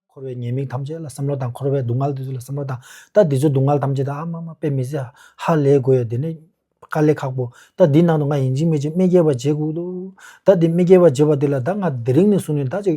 འཁོར་བའི་ཉེས་དམིགས་ཐམས་ཅད་ལ་བསམ་བློ་དང་འཁོར་བའི་སྡུག་བསྔལ་དེ་ཚོ་ལ་བསམ་བློ་དང་ད་འདི་ཚོའི་སྡུག་བསྔལ་ཐམས་ཅད་ད་ཨ་མ་མ་དཔེ་མི་སྲིད་ཧ་ཧ་ལས་དགོས་ཡ་དེ་ནས་དཀའ་ལས་ཁག་པོ་ད་འདིའི་ནང་དུ་ང་ཡིན་གཅིག་མེད་ཅིག་རྨེ་རྒྱལ་བ་བྱེད་དགོས་འདུག་ད་འདི་རྨེ་རྒྱལ་བ་བྱེད་པ་དེ་ལ་ད་ང་དེ་རིང་ནས་བཟུང་ནས་ད་ཅིག་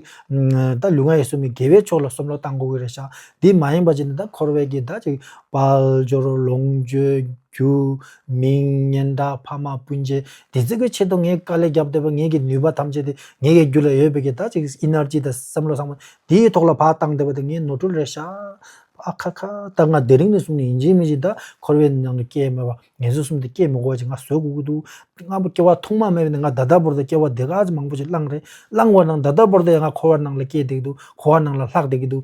ད་ལུས་ངག་ཡིད་གསུམ་མི་དགེ་བའི་ཕྱོགས་ལ་བསམ་བློ་གཏང་དགོས་ཀྱི་རེད་ཤག་དེ་མ་ཡིན་པ་བྱས་ནས་ད་འཁོར་བའི་གི་ད་ཅིག་དཔལ་འབྱོར་ལོངས་སྤྱོད་རྒྱུ་མིང་སྙན་གྲགས་ཕ་མ་སྤུན་མཆེད་དེ་བརྩི་དགོས་ཆེད་དུ་ངས་དཀའ་ལས་བརྒྱབ་འདོད་པ་ངེད་ཀྱི་ནུས་པ་ཐམས་ཅད་དེ་ངེད་ཀྱི་རྒྱུད་ལ་ཡོད་པའི་གི་ད་ཅིག Energy དང་བསམ་བློ་བཟང་པོ་དེའི་ཐོག་ལ་བག་བཏང་འདོད་པ་དེ་ངས་ནོར་འཁྲུལ་རེད་ཤག་ཨ་ཁ་ཁ་ད་ང་དེ་རིང་ནས་བཟུང་ནས་ཡིན་གཅིག་མིན་གཅིག་ད་འཁོར་བའི་ནང་ནས་སྐྱེ་མེད་པ་ངལ་གསོ་གསུམ་དེ་སྐྱེ་མི་དགོས་པ་ཅིག་ང་བཟོས་དགོས་ཀྱི་འདུག་ང་བུ་སྐྱེ་བ་ཐོག་མ་མེད་པ་ནས་ང་ད་ལྟ་བོར་དུ་སྐྱེ་བ་དེ་ག་ཚོད་མང་པོ་ཞིག་བླངས་རེད་བླངས་བ་ནང་ད་ལྟ་བོར་དུ་ཡང་ང་འཁོར་བ་ནང་ལ་སྐྱེ་བསྡད་ཀྱི་འདུག་འཁོར་བ་ནང་ལ་ལྷག་བསྡད་ཀྱི་འདུག་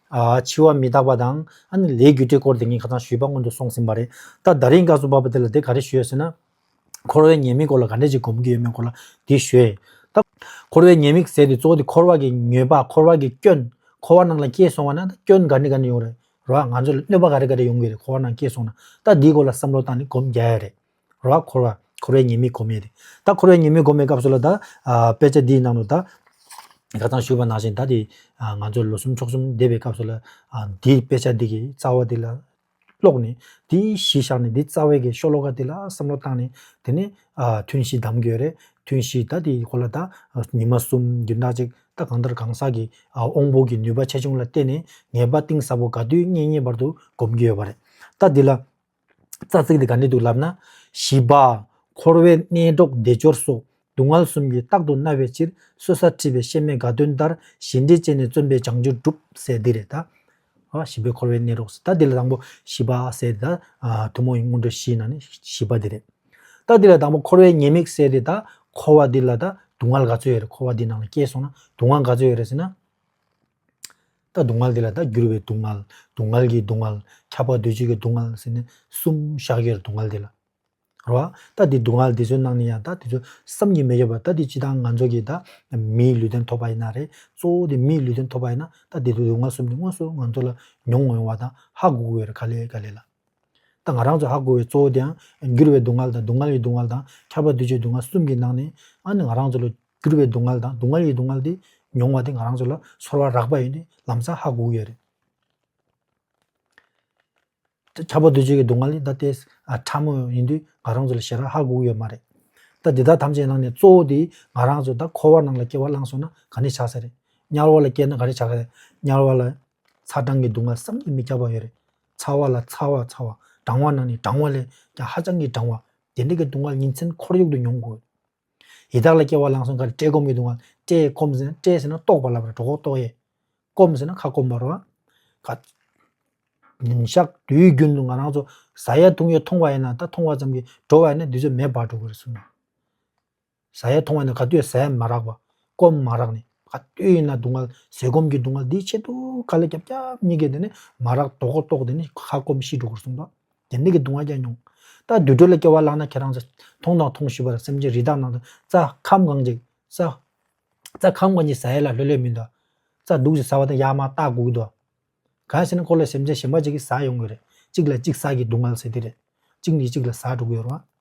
འཆི་བ་མི་རྟག་པ་དང། ཨ་ནི་ལས་རྒྱུ་འབྲས་སྐོར་དེ་ངས་ཁ་སང་ཞུས་པ་སྔོན་དུ་སོང་ཟིན་པ་རེད། ད་ད་རིང་སྐབས་སུ་བབས་པ་དེ་ལ་དེ་ག་རེ་ཞུས་ཟེར་ན། འཁོར་བའི་ཉེས་དམིགས་སྐོར་ལ་ག་འདྲས་ཅིག་སྒོམ་གྱི་ཡོད་མེད་སྐོར་ལ་དེ་ཞུས། ད། འཁོར་བའི་ཉེས་དམིགས་ཟེར་དུས་གཙོ་བོ་དེ་འཁོར་བ་གི་མྱོས་པ་འཁོར་བ་གི་སྐྱོན། འཁོར་བ་ནང་ལ་སྐྱེས་སོང་བ་ན་ད་སྐྱོན་ག་འདྲ་ག་འདྲ་ཡོང་རེད་རོགས་ང་ཚོ་ལ་གནོད་པ་ག་རེ་ག་རེ་ཡོང་གི་རེད་འཁོར་བ་ནང་སྐྱེས་སོང་ན། ད་འདིའི་སྐོར་ལ་བསམ་བློ་བཏང་ནས་སྒོམ་རྒྱ་ཡས་རེད། རོ་ཨ་འཁོར་བ་འཁོར་བའི་ཉེས་དམིགས་གོ་མེད་དེ། ད་འཁོར་བའི་ཉེས་དམིགས་གོ་མེད་སྐབས་སུ་ལ་ད། དཔེ་ཆ་འདིའི་ནང་དུ་ད། དགའ་ཚང་ཞུ་བ་ནང་བཞིན་ད་དེ། ང་ཚོ་ལོ་གསུམ་ཕྱོགས་གསུམ་འདས་པའི་སྐབས་སུ་ལ། འདིའི་དཔེ་ཆ་འདི་གི་རྩ་བ་འདི་ལ། ཀློག་ནས་དེའི་གཞི་བཞག་ནས་འདི་རྩ་བའི་གི་ཤོ་ལོ་ཀ་འདི་ལ་བསམ་བློ་བཏང་ནས། དེ་ནས། ཐུན་བཞི་གདམ་དགོས་རེད་ཐུན་བཞི་ད་དེའི་སྐོར་ལ་ད། ཉི་མ་གསུམ་བདུན་ཕྲག་གཅིག་ད་གང་ལྟར་གང་ཟག་གི། དབང་པོ་གི་ནུས་པ་ཆེ་ཆུང་ལ་བལྟས་ནས་ངེས་པ་གཏིང་ཟབ་པོ་དགའ་དུས་གཉེན་གཉེན་བར་དུ་སྒོམ་རྒྱུ་ཡོད་པ་རེད། ད་འདི་ལ། རྩ་ཚིག་འདི་ག་ནས་འདུག་ལབ་ན། བཞི་པ། འཁོར་བའི་གནས་སྒྲོག་བདེ་སྦྱོར་སོགས་སྡུག་བསྔལ་གསུམ་གྱིས་རྟག་ཏུ་མནར་བའི་ཕྱིར་གསོད་ས་ཁྲིད་པའི་གཤེད་མའི་དགའ་སྟོན་ལྟར་ཞེ་འགྲས་བཅད་ནས་བརྩོན་པས་བྱང་ཆུབ་བསྒྲུབ་ཟེར་འདི་རེད་ད། བཞི་པའི་འཁོར་བའི་གནས་སྒྲོག་ཟེར་ད་འདི་ལ་དང་པོ་བཞི་པ་ཟེར་ཏེ་ད། ཐུན་མོང་གི་སྔོན་འགྲོ་བཞིའི་ནང་ནས་བཞི་པ་འདི་རེད། ད་འདི་ལ་དང་པོ་འཁོར་བའི་ཉེས་དམིགས་ཟེར་ཏེ་ད། འཁོར་བ་འདི་ལ་ད་སྡུག་བསྔལ་ག་ཚོད་ཡོད་རེད་འཁོར་བ་འདིའི་ནང་ལ་སྐྱེས་སོང་ན་སྡུག་བསྔལ་ག་ཚོད་ཡོད་རེད་ཟེར་ན། ད་སྡུག་བསྔལ་དེ་ལ་ད་འགྱུར་བའི་སྡུག་བསྔལ། སྡུག་བསྔལ་གྱི་སྡུག་བསྔལ། ཁྱབ་པ་འདོད་བྱེད་ཀྱི་སྡུག་བསྔལ་ཟེར་ནས་གསུམ་ཞག་གེར་སྡུག་བསྔལ་དེ་ལ། རེད་བ། ད་དེ་སྡུག་བསྔལ་དེ་ཚོའི་ནང་ནས་ཡང་ད་དེ་ཚོ་བསམ་གྱིས་མི་ཁྱབ་པ་ད་དེ་སྤྱི་དང་ང་ཚོ་གིས་ད་མིའི་ལུས་རྟེན་ཐོབ་པ་ཡིན་ན་རེད་གཙོ་བོ་དེ་མིའི་ལུས་རྟེན་ཐོབ་པ་ཡིན་ན་ད་དེ་དུག་སྡུག་བསྔལ་གསུམ་དེ་དངོས་སུ་ང་ཚོ་ལ་མྱོང་འོང་བ་དང་ཧ་གོ་དགོས་རེད་ག་ལེ་ག་ལེ་ལ། ད་ང་རང་ཚོ་ཧ་གོ་བའི་གཙོ་བོ་དེའང་འགྱུར་བའི་སྡུག་བསྔལ་དང་སྡུག་བསྔལ་གྱི་སྡུག་བསྔལ་དང་ཁྱབ་པ་འདོད་བྱེད་སྡུག་བསྔལ་གསུམ་གྱི་ནང་ནས་ཨ་ནི་ང་རང་ཚོ་ལ་གྱུར་པའི་སྡུག་བསྔལ་དང་སྡུག་བསྔལ་གྱི་སྡུག་བསྔལ་དེ་མྱོང་བ་དེ་ང་རང་ཚོ་ལ་ཚོར་བ་རགས་པ་ཡོད་ནི་ལམ་སང་ཧ་གོ་གི་ཡོད་རེད། ཆགས་པ་འདོད་ཆོས་ཀྱི་སྡུག་བསྔལ་ནི་ད་ལྟའི་ཕྲ་མོ་ཡིན་དུས་ང་རང་ཚོ་ལ་ཞེ་དྲགས་ཧ་གོ་གི་ཡོད་མ་རེད། ད་འདི་དག་ཐམས་ཅད་ནང་ནས་གཙོ་བོ་དེ་ང་རང་ཚོ་ད་འཁོར་བ་ནང་ལ་སྐྱེ་བ་བླངས་སོང་ན་ག་ནས་ཆགས་ས་རེད། དམྱལ་བ་ལ་སྐྱེས་ན་ག་རེ་ཆགས་ས་རེད། དམྱལ་བ་ལ་ཚ་གྲང་གི་སྡུག་བསྔལ་བསམ་གྱིས་མི་ཁྱབ་པ་ཡོད་རེད། ཚ་བ་ལ་ཚ་བ་ཚ་བ་གྲང་བ་ནང་ནས་གྲང་བ་ལས་ཀྱང་ཧ་ཅང་གི་གྲང་བ་དེ་འདྲ་གི་སྡུག་བསྔལ་ཉིན་མཚན་ཁོར་ཡུག་ཏུ་མྱོང་དགོས། ཡི་དྭགས་ལ་སྐྱེ་བ་བླངས་སོང་ཁར་བཀྲེས་སྐོམ་གྱིས་གདུང་བ་བཀྲེས་སྐོམ་ཟེར་ན་བཀྲེས་ཟེར་ན་ལྟོགས་པ་ལབ་པར་གྲོགས་ཁོག་ལྟོགས་ཡས། སྐོམ་ཟེར་ན་ཁ་སྐོམ་པར་རོ། ཉིན་ཞག་དུས་རྒྱུན་དུ་ང་རང་ཚོ་བཟའ་ཡས་འཐུང་ཡས་འཐུང་བ་ཡིན་ན་ད་འཐུང་བ་ཙམ་གྱིས་འགྲོ་བ་ཡིན་ན་དུས་ཚོད་མེད་བར་འགྲོ་གི་རེད་གསུངས། བཟའ་ཡས་འཐུང་བ་ཡིན་ན་ག་དུས་ཟས་མ་རག་པ་སྐོམ་མ་རག་ནས་ག་དུས་ཡིན་ན་གདུང་བ་ཟས་སྐོམ་གྱིས་གདུང་བ་འདི་ཆེད་དུ་ག་ལ་རྒྱབ་རྒྱབ་གཉིས་ཀས་དེ་ནས་མ་རག་གྲོགས་ཁོག་ལྟོགས་དེ་ནས་ཁ་སྐོམ་ཤི་འགྲོ་གི་རེད་གསུངས་པ། དེ་འདི་གི་གདུང་བ་བསྐྱལ་མྱོང། ད་དུས་དྲོད་ལ་སྐྱེ་བ་བླངས་ན་ཁྱེད་རང་ཚོ། མཐོང་དང་མཐོང་ཞུས་པར་སེམས་ཅན་རི་དྭགས་ནང་དུ་རྩ་ཁམས་གང་ཅིག་ཟ། རྩ་ཁམས་གང་ཅིག་ཟ་ཡས་ལ་ལྷོད་ལྷོད་མིན་ཏོ། རྩ་སྡུག་ཅིག་ཟ་བ་དང་ཡར་མར་ལྟག་སྒུག་ཏོ། གང་ཟེར་ན་འཁོར་ལོས་སེམས་ཅན་གཞན་པ་ཅིག་གིས་ཟ་ཡོང་གི་རེད། གཅིག་ལ་གཅིག་ཟ་གི་སྡུག་བསྔལ་ཟེར་དེ་རེད། གཅིག་ནས་གཅིག་ལ་ཟ་འགྲོ་གི་ཡོད་རུང།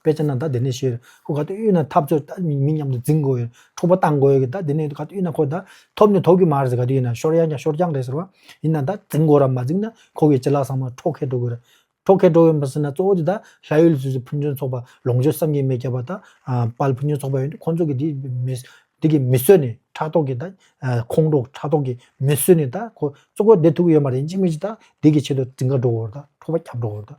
དཔེ་ཆ་རྣམས་ད་དེ་ནས་བཤད། ཁོ་ག་དུས་དབུས་ན་འཐབ་རྩོད་ད་མི་མཉམ་དུ་འཛིང་དགོས། འཕྲོག་པ་བཏང་དགོས་ཡོད་ད་དེ་ནས་ག་དུས་དབུས་ན་ཁོ་ད་ཐོབ་ནི་ཐོབ་གི་མ་རེད་ག་དུས་ཡིན་ན་ཤོར་ཡང་ཀྱང་ཤོར་རྐྱང་རེད་ཟེར་བ། ཡིན་ན་ད་འཛིང་དགོས་ར་མ་འཛིང་ན་ཁོ་གི་བྱི་ལ་ཟང་མ་འཕྲོག་ཁས་འགྲོ་དགོས་ར། འཕྲོག་ཁས་འགྲོ་ཡོད་མ་ཟེར་ན་གཙོ་བོ་དེ་ད་ལྷ་ཡུལ་སུད་སི་ཕུན་ཚོན་ཚོགས་པ་ལོངས་སྤྱོད་བསམ་གྱིས་མེད་རྒྱ་བ་ད་དཔལ་ཕུན་ཚོན་ཚོགས་པ་ཡོད་ནི་ཁོ་ཚོ་གི་དེ་གི་མི་གསོད་ནི་ཕྲག་དོག་གི་ད་ཁོང་ཁྲོ་ཕྲག་དོག་གི་མི་གསོད་ནི་ད་ཁོ་གཙོ་ཁོ་དེ་ཐུག་གི་ཡོད་མ་རེད་འཇིགས་མེད་ཀྱི་ད་དེ་གི་ཆེད་དུ་འཛིང་ག་འགྲོ་དགོས་ར་ད་འཕྲོག་པ་རྒྱབ་འགྲོ་དགོས་ར་ད།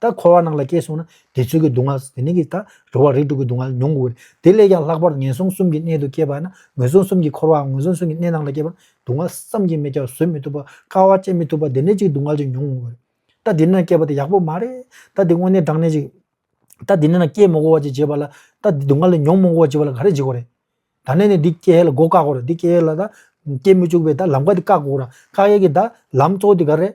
ད་འཁོར་བ་ནང་ལ་སྐྱེས་སོང་ན་དེ་ཚུལ་གྱི་སྡུག་བསྔལ་དེ་ནས་ཀྱི་ད་འགྲོ་བ་རིགས་དྲུག་གི་སྡུག་བསྔལ་མྱོང་དགོས་དེ་ལས་ཀྱང་ལྷག་པར་ངན་སོང་གསུམ་གྱི་གནས་དུ་སྐྱེས་པ་ན་ངན་སོང་གསུམ་གྱི་འཁོར་བའམ་ངན་སོང་གསུམ་གྱི་གནས་ནང་ལ་སྐྱེས་པ་སྡུག་བསྔལ་བསམ་གྱིས་མི་ཁྱབ་བཟོད་མི་ཐུབ་པ་དཀའ་བ་སྤྱད་མི་ཐུབ་པ་དེ་ནས་ཀྱི་སྡུག་བསྔལ་ཅིག་མྱོང་དགོས། ད་དེ་ནས་ན་སྐྱེས་པ་དེ་ཡག་པོ་མ་རེད་ད་དེ་དངོས་གནས་བགྲང་ནས་ཅིག་ད་དེ་ནས་ན་སྐྱེས་མོ་གོ་བ་ཅིག་བྱེད་པ་ལ་ད་དེ་སྡུག་བསྔལ་མྱོང་མོ་གོ་བ་བྱེད་པ་ལ་ག་རེ་བྱེད་དགོས་རེད། ད་ནས་ནས་འདི་སྐྱེ་ཡས་ལ་སྒོ་བཀག་དགོས་རེད་འདི་སྐྱེ་ཡས་ལ་ད་སྐྱེ་མི་བཅུག་པའི་ད་ལམ་ཀ་དེ་བཀག་དགོས་ར་བཀག་ཡས་ཀྱི་ད་ལམ་གཙོ་བོ་དེ་ག་རེད།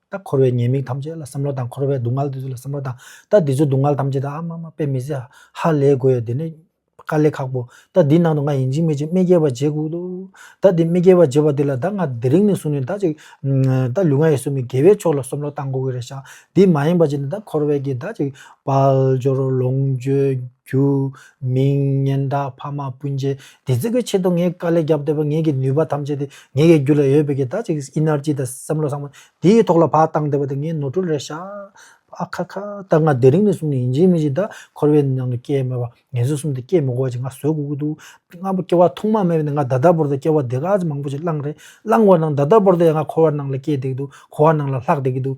ད་འཁོར་བའི་ཉེས་དམིགས་ཐམས་ཅད་ལ་བསམ་བློ་དང་འཁོར་བའི་སྡུག་བསྔལ་དེ་ཚོ་ལ་བསམ་བློ་དང་ད་འདི་ཚོའི་སྡུག་བསྔལ་ཐམས་ཅད་ད་ཨ་མ་མ་པེ་མི་ཟེ་ཧ་ཧ་ལས་དགོས་ཡ་དེ་ནས་དཀའ་ལས་ཁག་པོ་ད་འདི་ནང་དུ་ང་ཡིན་གཅིག་མེད་གཅིག་མེ་སྐྱེ་བ་འཇེ་གུག་འདུག་ད་འདི་མེ་སྐྱེ་བ་འཇེ་བ་འདི་ལ་ད་ང་དེ་རིང་ནས་བཟུང་ནས་ད་ཅིག་ད་ལུས་ངག་ཡིད་གསུམ་མི་དགེ་བའི་ཕྱོགས་ལ་བསམ་བློ་གཏང་གོ་གི་རེད་ཤག་འདི་མ་ཡིན་པ་ཅིག་ནས་ད་འཁོར་བའི་གི་ད་ཅིག་དཔལ་འབྱོར་ལོངས་སྤྱོད་རྒྱུ་མིང། སྙན་གྲགས་ཕ་མ་སྤུན་མཆེད་དེ་ཚོས་ཀྱི་ཆེད་དུ་ངས་དཀའ་ལས་བརྒྱབ་བསྡད་པ་ངས་ཀྱི་ནུས་པ་ཐམས་ཅད་དེ་ངས་ཀྱི་རྒྱུད་ལ་ཡོད་པའི་ཀྱི་ད་ཅིག Energy དང་བསམ་བློ་བཟང་པོ་དེའི་ཐོག་ལ་བག་བཏང་བསྡད་པ་དེ་ངས་ནོར་འཁྲུལ་རེད་ཤག་ཨ་ཁ་ཁ་ད་ང་དེ་རིང་ནས་བཟུང་ནས་ཡིན་གཅིག་མིན་གཅིག་ད་འཁོར་བའི་ནང་དུ་སྐྱེས་མེད་པ་ངལ་གསོ་གསུམ་དེ་སྐྱེས་མི་གོ་བ་ཅིག་ང་བཟོས་དགོས་ཀྱི་འདུག་ང་སྐྱེ་བ་ཐོག་མ་མེད་པ་ནས་ང་ད་ལྟ་བོར་དུ་སྐྱེ་བ་དེ་ག་ཚོད་མང་པོ་ཅིག་བླངས་རེད་བླངས་བ་ནང་ད་ལྟ་བོར་དུ་ཡང་ང་འཁོར་བ་ནང་ལ་སྐྱེས་བསྡད་ཀྱི་འདུག་འཁོར་བ་ནང་ལ་ལྷག་བསྡད་ཀྱི་འདུག་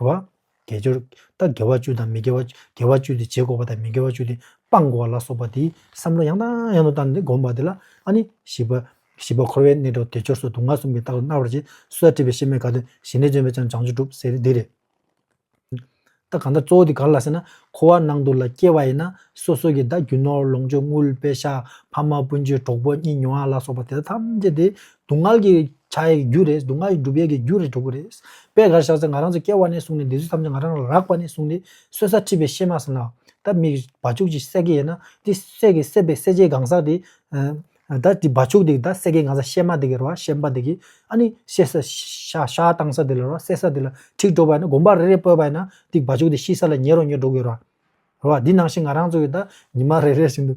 བ། དགེ་སྦྱོར། ལྟ་དགེ་བ་བཅུ་དང་མི་དགེ་བ། དགེ་བ་བཅུ་དེ་བྱེད་འགོག་པ་དང་མི་དགེ་བ་བཅུ་དེ་སྤང་འགོག་ལ་སོགས་པ་དེའི་བསམ་བློ་ཡང་དང་ཡང་དུ་བཏང་སྟེ་བསྒོམ་པ་དེ་ལ་ཨ་ནི་བཞི་པ། བཞི་པ་འཁོར་བའི་གནས་གྲོལ་དགེ་སྦྱོར་སོགས་དུག་ལྔ་གསུམ་གྱི་རྟགས་སུ་སྣང་བར་བྱེད། སོ་སོར་འཁྲིད་པའི་ཤེས་མེད་དགའ་སྟོན་ཞི་གནས་བྱོན་པས་ཀྱང་བྱང་ཆུབ་སྒྲུབ་ཟེར་དེ་རེད། ད་གང་ལྟར་གཙོ་བོ་དེ་ག་ལ་ཟེར་ན་འཁོར་བ་སྣང་དུག་ལ་སྐྱེ་བ་ཡིན་ན་སོ་སོ་གྱི་བདག་རྒྱུ་ནོར་ལོངས་སྤྱོད་དངུལ་དཔལ་ཤ་ཕ་མ་སྤུན་མཆེད་གྲོགས་པོ་གཉིས་ཉོ་བ་ལ་སོགས་པ་དེ་དག་ཐམས་ཅད་དེ་སྡུག་བསྔལ་གྱི་བྱ་ཡི་རྒྱུ་རེད། སྡུག་བསྔལ་སྒྲུབ་ཡས་ཀྱི་རྒྱུ་རེད་འགྲོ་གི་རེད། དཔེ་གར་བཞག་ཚེ་ང་རང་ཚོ་སྐྱེ་བ་ནས་བཟུང་ནས་འདི་ཚོ་ཐམས་ཅད་ང་རང་ལ་རགས་པ་ནས་བཟུང་སྟེ་གསོད་ས་ཁྲིད་པའི་གཤེད་མ་བསམ་ལ། ད་མིག་གི་བ་ཕྱུགས་ཅིག་བསད་ཀྱི་ཡིན་ན་འདི་བསད་ཀྱི་བསད་པའི་སྲས་ཆེ་གང་ཟག་དེ། ད་འདི་བ་ཕྱུགས་དེ་ད་བསད་ཀྱི་གང་ཟག་གཤེད་མ་དེ་གི་ར་བ་གཤེད་པ་དེ་གི་ཨ་ནི་གཤེད་ས་ཤ་ཤ་བཏང་ས་དེ་ལ་ར་བ་བསད་ས་དེ་ལ་ཁྲིད་འགྲོ་བ་ཡིན་ན་དགོན་པ་རེ་རེ་སྤོས་པ་ཡིན་ན་འདི་བ་ཕྱུགས་དེ་ཤི་ས་ལ་ཉེ་རོ་ཉེ་འགྲོ་གི་ར་བ། ར་བ་འདི་ནང་བཞིན་ང་རང་ཚོ་གི་ད་ཉི་མ་རེ་རེ་བཞིན་དུ།